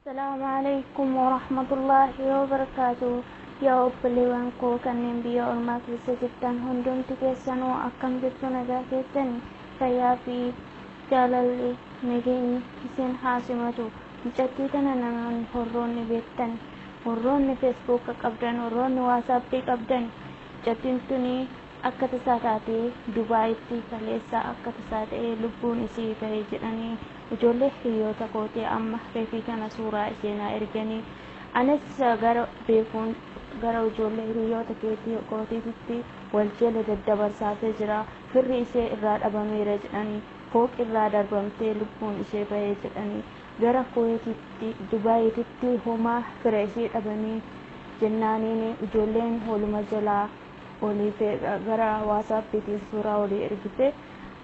Salaamu alaikum warahmatullahi wabarakatuh Yaa obboleewwan koo kanneen biyya ormaa keessa jirtan hundumti keessanuu akkam jirtu nagaa keessani fayyaa fi jaalalli nageenyi isin haa simatu mucattii tana namoonni horroonni beektan horroonni feesbuuka qabdan horroonni waasaappii qabdan mucattiin tunii Akka tasaa taatee Dubaayitti kaleessa akka tasaa ta'ee lubbuun isii bahe jedhanii ijoollee hiriyoota kootii amma reefii kana suuraa ishee naa erganii anis gara beekuun gara ijoollee hiriyoota keetii kootiititti wal jala daddabarsaatee jira firri ishee irraa dhabameera jedhanii fooqi irraa darbamtee lubbuun ishee bahe jedhanii gara kuweetitti Dubaayiititti homaa fira ishee dhabanii jennaaniin ijoolleen waluma jalaa olii feedha gara waasaappiitiin suuraa olii ergite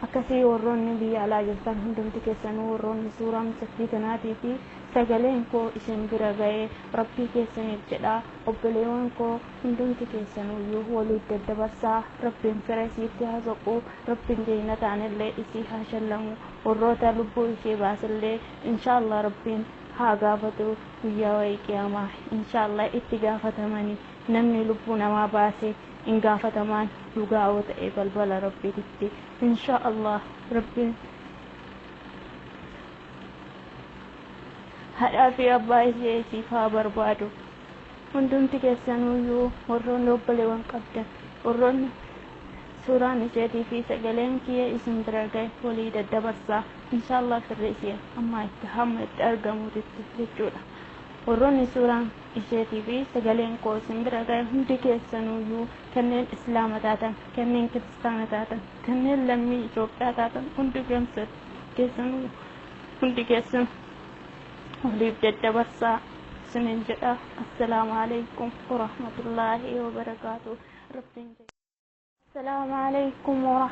akkasii warroonni biyya alaa jirtan hundumti keessanuu warroonni suuraa mucattii tanaatii fi sagaleen koo isin bira ga'ee rabbii keessaniif jedha obboleewwan koo hundumti keessanuyyuu waliif daddabarsaa rabbiin fira isiitti haa soqu rabbiin jeeyinataanillee isii haa shallamu warroota lubbuu ishee baasellee inshaallah rabbiin haa gaafatu guyyaa wayii qiyaamaa inshaallah itti gaafatamanii Namni lubbuu namaa baase hin gaafatamaan dhugaa yoo ta'e balbala Rabbiititti inshaa Allaah Rabbiin hadhaa fi abbaa ishee isiif haa barbaadu hundumti keessanuuyyuu warroonni obboleewwan qabdan warroonni suuraan isheetii fi sagaleen kiyya isin bira gahe walii daddabarsaa inshaa Allaah firri ishee ammaa itti hamma itti argamuutitti jechuudha warroonni suuraan isheetii fi sagaleen koo isin bira ga'e hundi keessanuuyyuu kanneen Islaama taatan, kanneen Kiristaana taatan, kanneen lammii Itoophiyaa taatan hundi keessanuu hundi keessan waliif daddabarsaa isiniin jedha. Assalaamu Aleykum Warahmatullaahi Wabarakaatuh. Rabbiin Assalaamu Aleykum Warahmatullaahi